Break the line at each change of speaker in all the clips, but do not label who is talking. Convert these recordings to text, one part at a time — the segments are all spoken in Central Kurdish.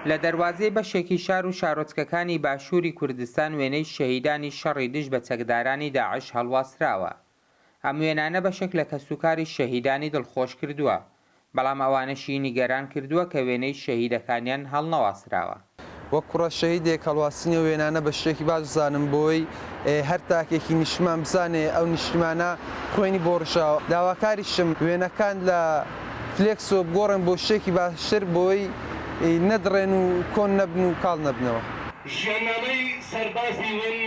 لە دەروازەی بەشێکی شار و شارۆچکەکانی باشووری کوردستان وێنەی شەهیدانی شەڕی دژ بە چەکدارانی داعش هەڵواسراوە. ئەم وێنانە بەشێک لە کەسوکاری شەهیدانی دڵخۆش کردووە، بەڵام ئەوانەشی نیگەران کردووە کە وێنەی شەهیدەکانیان هەڵنەواسراوە. وەک کوڕە
شەهیدێک هەڵواستنی ئەو وێنانە بە شتێکی باش بزانم بۆی هەر تاکێکی نیشتمان بزانێ ئەو نیشتیمانە خوێنی بۆ ڕژاوە داواکاریشم وێنەکان لە فلێکسەوە بگۆڕێن بۆ شتێکی باشتر بۆی نەدڕێن و کۆن نەبن و کاڵ نەبنەوە. ژیاننامەی سەربازی ون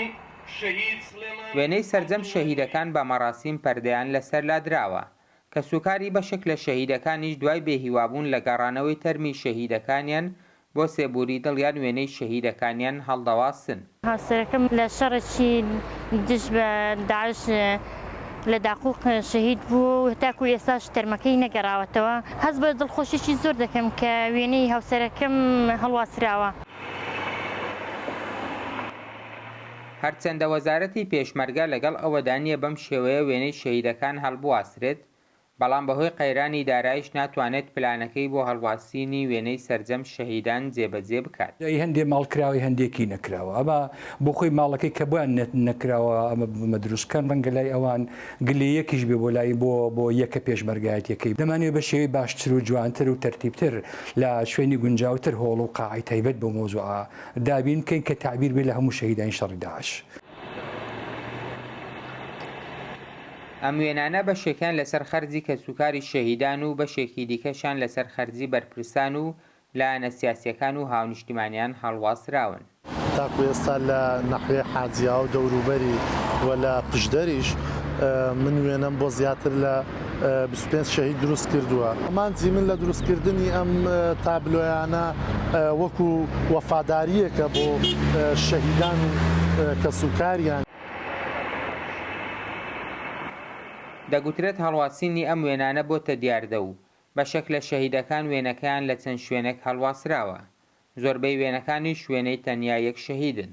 شەهید سڵێمان وێنەی سەرجەم شەهیدەکان بە مەڕاسیم پەردەیان لەسەر لادراوە، کەسوکاری بەشێک لە شەهیدەکانیش دوای بێهیوابوون لە گەڕانەوەی تەرمی شەهیدەکانیان بۆ سێبووری دڵیان وێنەی شەهیدەکانیان هەڵدەواسن. هاوسەرەکەم لە
شەڕێکی دژ بە داعش لە داقوق شەهید بوو و تاکوو ئێستاش تەرمەکەی نەگەڕاوەتەوە. هەست بە دڵخۆشییەکی زۆر دەکەم کە وێنەی هاوسەرەکەم هەڵواسراوە.
هەرچەندە وەزارەتی پێشمەرگە لەگەڵ ئەوەدا نییە بەم شێوەیە وێنەی شەهیدەکان هەڵبواسرێت، بەڵام بەهۆی قەیرانی دارایش ناتوانێت پلانەکەی بۆ هەڵواسینی وێنەی سەرجەم شەهیدان جێبەجێ بکات. ئەی هەندێ ماڵ کراوەی
هەندێکی نەکراوە ئەمە بۆخۆی ماڵەکەی کە بۆیان نەکراوە ئەمە ببمە دروست بکەن ڕەنگە لای ئەوان گلەیەکیش بێ بۆ لای بۆ بۆ یەکە پێشمەرگایەتیەکەی دەمانەوێت بە شێوەی باشتر و جوانتر و تەرتیبتر لە شوێنی گونجاوتر هۆڵ و قاعەی تایبەت بەو مەوزوعە دابین بکەین کە تەعبیر بێت لە هەموو شەهیدانی شەڕی داعش.
ئەم وێنانە بەشێکیان لەسەر خەرجی کەسوکاری شەهیدان و بەشێکی دیکەشیان لەسەر خەرجی بەرپرسان و لایەنە سیاسییەکان و هاونیشتیمانیان هەڵواسراون. تاکو ئێستا
لە نەحوێ حاجیا و دەوروبەری و لە پشدەریش من وێنەم بۆ زیاتر لە. بیست و پێنج شەهید دروست کردووە. ئامانجی من لە دروست کردنی ئەم تابلۆیانە وەکو وەفادارییەکە بۆ شەهیدان و کەسوکاریان.
دەگوترێت هەڵواسینی ئەم وێنانە بۆتە دیاردە و بەشێک لە شەهیدەکان وێنەکەیان لە چەند شوێنێک هەڵواسراوە. زۆربەی وێنەکانیش وێنەی تەنیا یەک شەهیدن.